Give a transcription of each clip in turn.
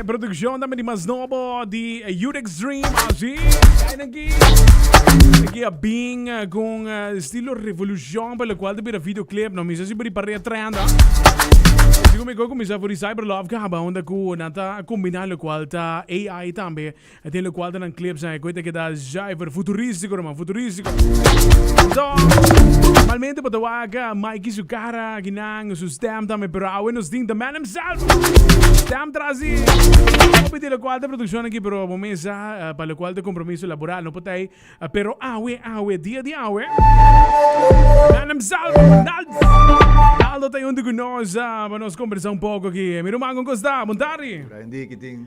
producción también di más nobo di Yudex Dream. Así, caen aquí. Aquí a Bing eh, con eh, estilo revolución, por lo cual te pide videoclip. No, mi si por pared trend. ah. Así como ik ook comienza voor die cyberlove gaba, onda ku nata combina lo cual ta AI también. E tin lokual ta nan clips nan, e koe ta keda zuiver futuristico no man, futuristico. So, malmente bo ta waka Mikey su cara, aki nan, su stem tambe, pero awe nos tin The Man Himself, stem tras di hopi di lokual ta produccion aki, pero bo mesa pa lokual ta compromiso laboral no por ta ei, pero awe, awe, dia di awe The Man Himself, Nalds Aldo ta yunto cu nos pa nos combersa un poco aki. Mi ruman con costa? Bon tardi. Brian Dicky tin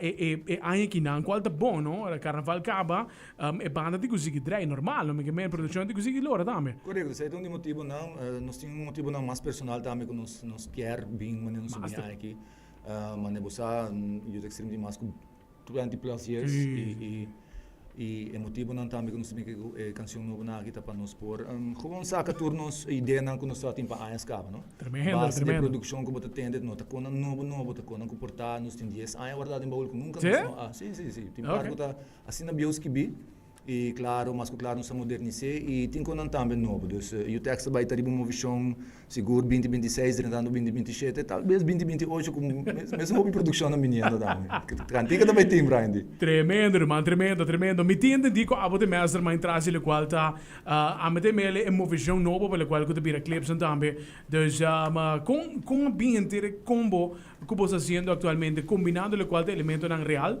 E aña ki nan kual ta bon no, ora karnaval kaba e banda tin ku sigui drei normal no, mi ke mira e produshon tin ku sigui lora tambe. Korekto, esei ta un di motibunan. Nos tin motibunan mas personal tambe ku nos kier bin mane nos subiña aki. Mane bo sa yu ta eksprimí mas ku plenti plasier i. I e motibunan tambe ku nos ta bin kere ku e kanshon nobonan akí ta pa nos por gewoon saka tur nos ideanan ku nos tabatin pa añas kaba, no? Tremendo, tremendo. Base di e produkshon ku bo ta tene, no ta konan nobo nobo, ta konan ku por ta. Nos tin dies aña wardá den baul ku nunka nos no a. Sí? Sí, sí, sí. Tin par ku ta asina bieu skibí. I klaru, mas ku klaru nos a modernis'é i tin konan tambe nobo. Dus Youth Extra bai ta riba un movishon. Sigur binti binti i seis drenta anto binti binti i shete tal bes binti binti i ocho ku mesun hopi produkshonnan biniendo tambe. Kantika ta bai tin Braindi? Tremendo ruman tremendo tremendo mi tin entendí ku abo ta e mester man trashi lokual ta a mete mele e movishon nobo pa lokual ku ta bira clipsnan tambe dus kon kon a binti de combo ku boso hasiendo aktualmente kombinando lokual ta elementonan real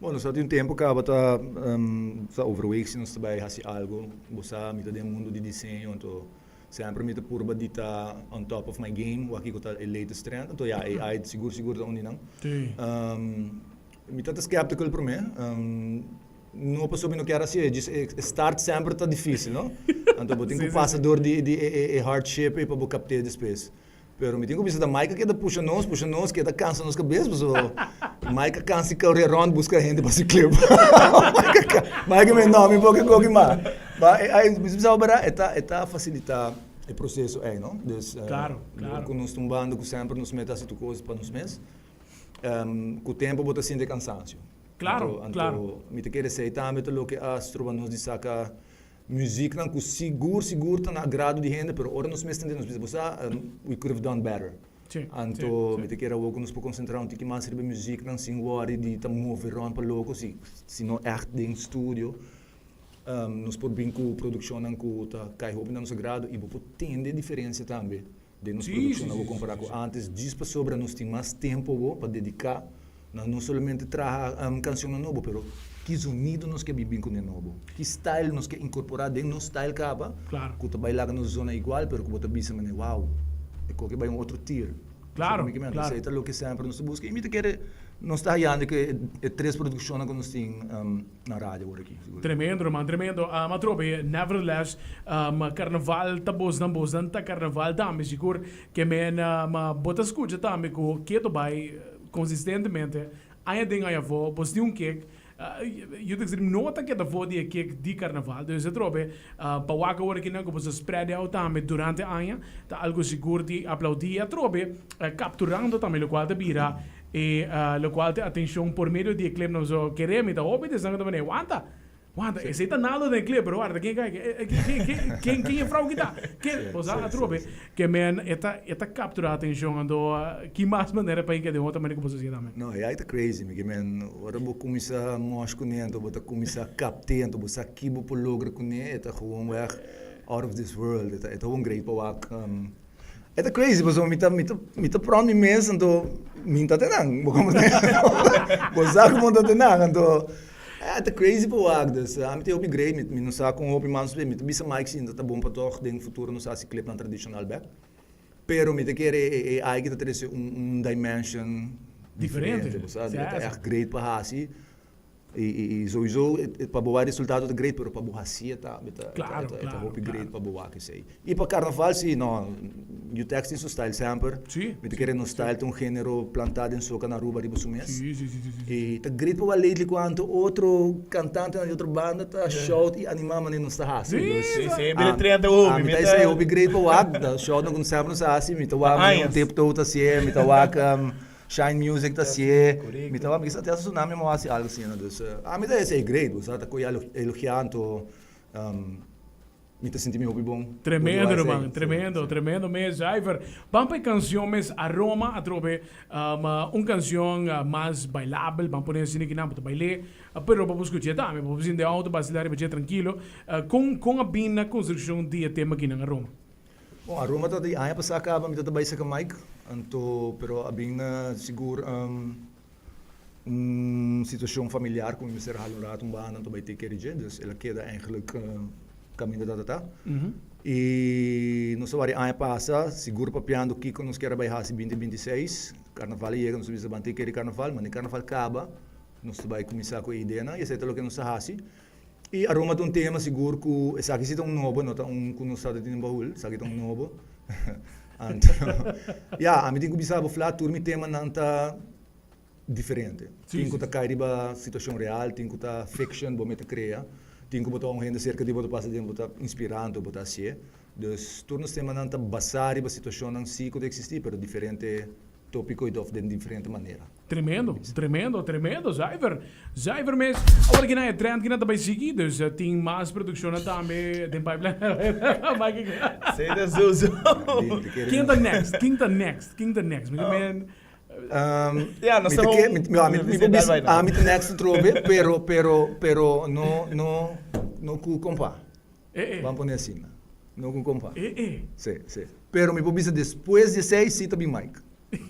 Bo, nos a tin tempu kaba ta ta overweeg si nos ta bai hasi algu. Bo sa mi ta den mundu di diseño, anto semper mi ta purba di ta on top of my game, wak kiko ta e latest trend. Anto ya, AI sigur sigur ta un di nan. Mi ta ta skeptical promé, no pasobra mi no kier hasié, djis e start semper ta dificil, no? Anto bo tin ku pasa dor di e hardship ei pa bo kapt'é despues. Pero mi tin ku bisa ta Maika ke ta pusha nos, pusha nos, ke ta kansa nos kabes, paso Maika kansa i kore rònt buska hende pa si klip. Maika mi no, mi por ke koki mas. Ba e ai mi bisa ora bira e ta e ta fasilitá e proseso ei no. Dus loke ku nos tumbando ku semper nos mete hasi tur kos pa nos mes, ku tempu bo ta sinti e kansansio. Anto mi ta kere sei tambe ta loke a stroba nos di saka Muzieknan ku sigur sigur ta na agrado di hende, pero ora nos mes tende nos bisa bo sa, we could have done better. Anto mi ta kere awor ku nos por konsentrá un tiki mas riba muzieknan sin wòri di ta move rònt pa loko, si sino ègt den studio nos por bring ku produkshonnan ku ta kai hopi na nos agrado i bo por tende diferensia tambe. Den nos produccion awor compará cu antes djis pasobra nos tin mas tempo awor pa dedicá na no solamente traha cancionnan nobo pero ki zonido nos ke bibi cu ne nobo ki style nos ke incorporá den nos style caba cu ta bay laga nos zona igual pero cu bo ta bisa mane wow e coke bay un otro tier pasobra esey ta loke semper nos ta busca y mi ta kere nos ta hayando cu e tres produccionnan cu nos tin. na radio word aki. Tremendo ruman tremendo um atrobe nevertheless um carnaval ta bosnan bosnan ta carnaval tambe sigur ke men um bo ta scucha tambe cu keto bay consistentemente aña den aña fo bo sni un kek yo ta keda no ta keda fo di e kek di carnaval dus atrobe pa wak awor akinan cu bo ta spread out tambe durante aña ta algo sigur di aplaudi y atrobe capturando tambe locual ta bira E locual te atencion por medio di e clip nos a kere. Mi ta hopi di esnan cu ta manera, wanta, wanta, esey ta Naldo den e clip, pero warda, ken kai, ken, ken e vrouw ki ta? Ken? Bo sa a trobe cu e men e ta, e ta captura atencion ando ki mas manera pa yega den otro manera cu bo ta siña tambe? No, yai ta crazy mi, ki men ora bo cuminsa mosh cu ne anto bo ta cuminsa capte anto bo sa ki bo por logra cu ne, e ta gewoon weg out of this world, e ta, e ta gewoon great pa wak. E ta crazy pasobra mi ta mi ta mi ta pront mi mes anto mi ta te nan bo comprende bo sa como ta te nan anto e ta crazy pa wak dus ami ta hopi great mi no sa con hopi mans mi ta bisa Mike si no ta bon pato den futuro nos hasi clipnan tradicional bek pero mi ta kere e e ai ki ta trece un dimension diferente bo sa ta echt great pa hasi Y souiso pa bo wak resultado ta great pero pa bo hacié ta hopi great pa bo wak esey. Y pa carnaval si no utrecht tin su style semper mi ta kere nos style ta un genero planta den soca na Aruba riba su mes y ta great pa wak lately cuanto otro cantantenan di otro banda ta shout y anima manera nos ta haci ami ta esey hopi great pa wak shout nan cu semper nos a haci mi ta wak manera un tiptoe ta hacié mi ta wak. Shine Music ta hasié. Mi ta wak, mi kisa te hasi su nam, mi a wak hasi algu siña. Dus, ami ta hesei great, bo sa ta ko'i elogiá anto, mi ta sinti mi hopi bon. Tremendo ruman, tremendo, tremendo mes zuiver. Ban pa e canción mes Aroma atrobe, un canción mas bailabel, ban pone asina kinan pa ta bail'é, pero pa bo scuch'é tambe, pa bo sinti auto basla riba dje trankilo. Con con a bin na construccion di e tema kinan Aroma? Bon a ruma ta di aña pasá kaba mi ta ta bai saka Mike anto pero a bin sigur un situashon familiar ku mi mester hala un ratu un banda anto bai take care di dje dus el a keda eihglik kaminda ta ta ta i nos ta wari aña pasa sigur papiando kiko nos kier a bai hasi binti binti i seis karnaval a yega nos ta bisa ta ban take care di karnaval ma den karnaval kaba nos ta bai kuminsá ku e ideanan i esei ta loke nos ta hasi. I Aroma ta un tema sigur ku esaki si ta un nobo, no ta un ku nos sa ta tene bahul, esaki ta un nobo. Anto, ya, ami tin ku bisa bo flat, tur mi temanan ta diferente. Tin ku ta kai riba situashon real, tin ku ta fiksyon bo mete krea, tin ku bo ta wak un hende serka di bo ta pasa den bo ta inspirá anto bo ta hasié. Dus tur nos temanan ta basá riba situashonnan si ku ta eksistí pero diferente Tópiko i dòf den diferente manera. Tremendo, tremendo, tremendo, zuiver, zuiver mes. Awor kina e trend kina ta bai sigui, dus tin mas produkshonnan tambe den pipeline. Maike kina. Sey ta zo zo. Kin ta next, kin ta next, kin ta next? Mi ta men. Ya, nos ta hou. Mi ta ke, mi ta bis, mi ta next atrobe, pero, pero, pero no, no, no ku kompa. Ban pone asina. No ku kompa. Se, se. Pero mi por bisa despues di esei si ta bin Mike.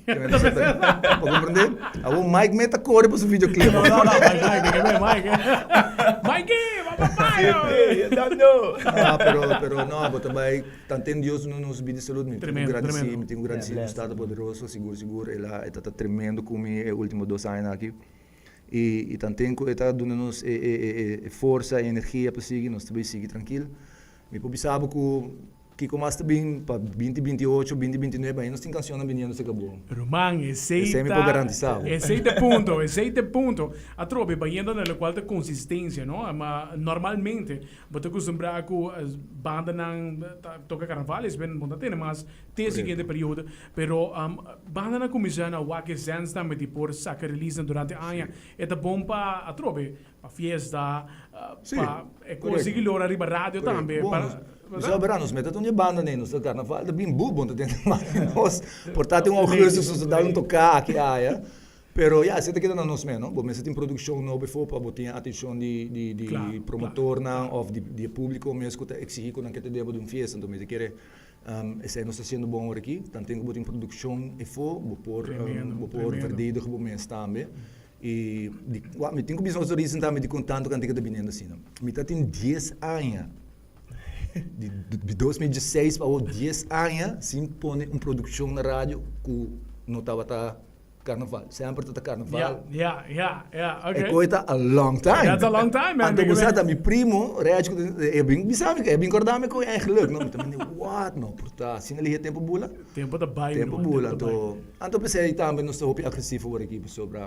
Ke mi a bisa ta bin. Bo komprende? Awor Mike mei ta kore pa su video clip. No, no, no. Mike, Mike. Ke mei Mike. Mikey, bo ta papaya. Yo ta no. No, pero, pero no. Bo ta bai. Tanten Dios no nos bini salud. Mi tin ku gradisi. Mi tin ku gradisi nos Tata Poderoso. Sigur, sigur e ta ta tremendo ku mi e ultimo dos aña aki. I tanten ku e ta duna nos e forsa, e energia pa sigui, nos ta bai sigui trankil. Mi por bisa bo ku kiko mas ta bin pa binti binti ocho, binti binti nuebe aña, nos tin kanshonnan biniendo serka bo. Ruman, esei ta. Esei mi por garantisá bo. Esei ta e punto, esei ta e punto. Atrobe, bayendo na lokual ta konsistensia, no? Ma, normalmente, bo ta akustumbrá ku bandanan ta toka karnaval i esei bo no ta tene mas te e siguiente periodo. Pero banda na kuminsá na wak e zèns tambe di por saka release na durante aña. E ta bon pa atrobe, pa fiesta, pa e kos di Guilor ariba radio tambe. Pasobra nos mester ta uni e banda na nos karnaval ta bin bubo no ta kende mas di nos. Por ta ta un ogesto nos ta dal un toká aki aya. Pero ya esei ta keda na nos mes no. Bo mester tin produkshon nobo befo pa bo tin atenshon di promotornan òf di e públiko mes ku ta eksigí ku nan ke ta deba di un fiesta. Enton mester kere Esei nos ta siendo bon ora aki. Tanten ku bo tin produkshon efo, bo por bo por verdedig bo mes tambe. I di kua mi tin ku bisa otro reason tambe di kon tantu kantidad ku ta biniendo asina. Mi ta tin dies aña, di dos mil dieseis pa awo, dies aña sin pone un produkshon na radio ku no tabata Carnaval. Semper ta ta carnaval. Ya, ya, ya, ya. E koe ta a long time. Ya ta long time, Anto ku sa ta mi primo, Reg, e bin bisa mi, e bin kòrdá mi ku ègèlèk, no? Mi ta mindi, wòt no, por ta asin alí e tempu bula? Tempu ta bai, bruma, tempu ta bai. Tempu bula. Anto p'esei tambe nos ta hopi agresivo wòrdu aki pasobra.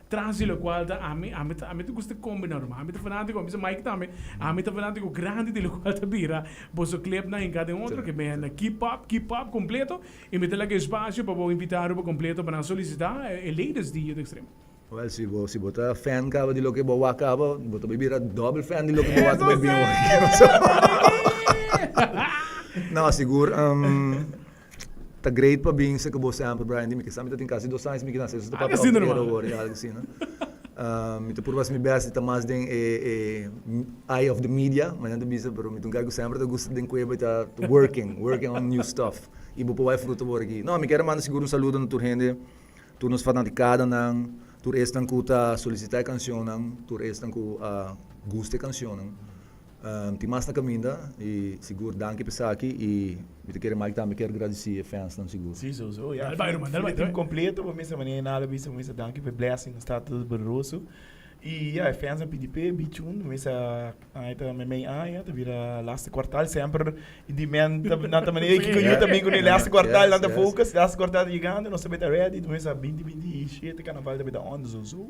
Tras di lokual ta ami, ami ta ami ta gusta kombi no, ruman. Ami ta fanatiko, a bisa Mike tambe, ami ta fanatiko grandi di lokual ta bira boso klepnan hinká den otro ke mehen na Kip Up, Kip Up kompleto i mi ta laga espasio pa bo invitá Aruba kompleto pa nan solisitá e ladies di Youth Extremo. Wèl, si bo si bo ta fèn kaba di loke bo wak kaba, bo ta bai bira dòbel fèn di loke bo wak ta bai bira. Nau sigur. Ta great pa bin seki bo sample Brian di mi kisa mi ta tin kasi dos añas mi ke nase so ta papia otro era awor ya algo asina mi ta purba hasi mi best di ta mas den e e eye of the media manan ta bisa pero mi ta un guy ku semper ta gusta den cueva y ta working working on new stuff y bo por bay fruto wor aki no mi quiero manda sigur un saludo na tur hende tur nos fanaticadannan tur esnan ku ta solicita e cancionnan tur esnan ku a gusta e cancionnan. Tin mas na kaminda y sigur danki pa esaki y mi ta kere Mike tambe ker gradeci e fans nan sigur. Sí so so ya file team completo pa mesa mane nada bisa pa mesa danki p'e blessing nos ta todo poderoso y ya e fans nan pidi p'e bichun pa mesa aña ta meimei aña ta bira last cuartal semper y di men nan ta mane ey kiko yu ta bin kune last cuartal nan ta focus last cuartal ta yegando nos ta beta ready pa mesa binti binti y shete carnaval ta beta on so so.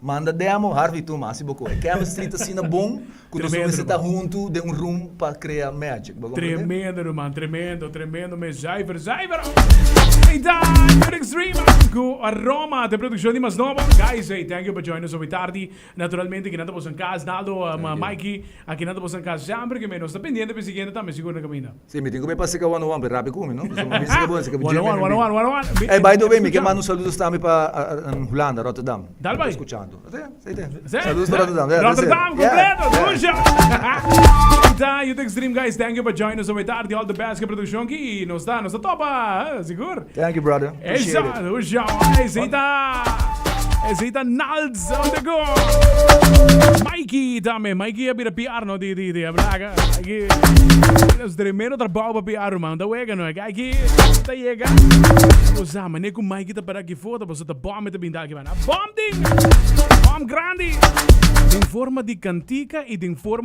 Manda demo, Harvey Tuma, asi bo koe. Chemistry ta asina bon ku nos lo mester ta huntu den un room pa krea magic. Bo a komprende? Tremendo ruman, tremendo, tremendo mes. Zuiver, zuiver! Ey dai, Lyrics Dreamer ku Aroma den produkshon di mas nobo. Guys ey, thank you pa join nos hopi tardi. Naturalmente kinan ta boso nan kas, Naldo, Mikey, a kinan ta boso nan kas semper ke nos ta pendiente pa e siguiente tambe sigur na kaminda. Si mi tin cu mi pa sika one one pe rapi cu mi no so mi sika bo sika bo djembe mi bin eh by the way mi ke manda un saludos tambe pa Hulanda Rotterdam ta escuchando saludos pa Rotterdam ya that's it y ta Youth Extreme guys thank you pa join nos awe tardi all the best ke produccion ki y nos ta nos ta topa sigur thank you brother appreciate it esey ta Nalds on the go Mikey tambe Mikey a bira PR no di di di Aki nos tremendo trabao papi Aru man ta wega no aki ta yega bo sa mane ku Mikey ta para aki for ta boso ta bom e ta binda aki bom ting bom grandi den forma di kantika i den forma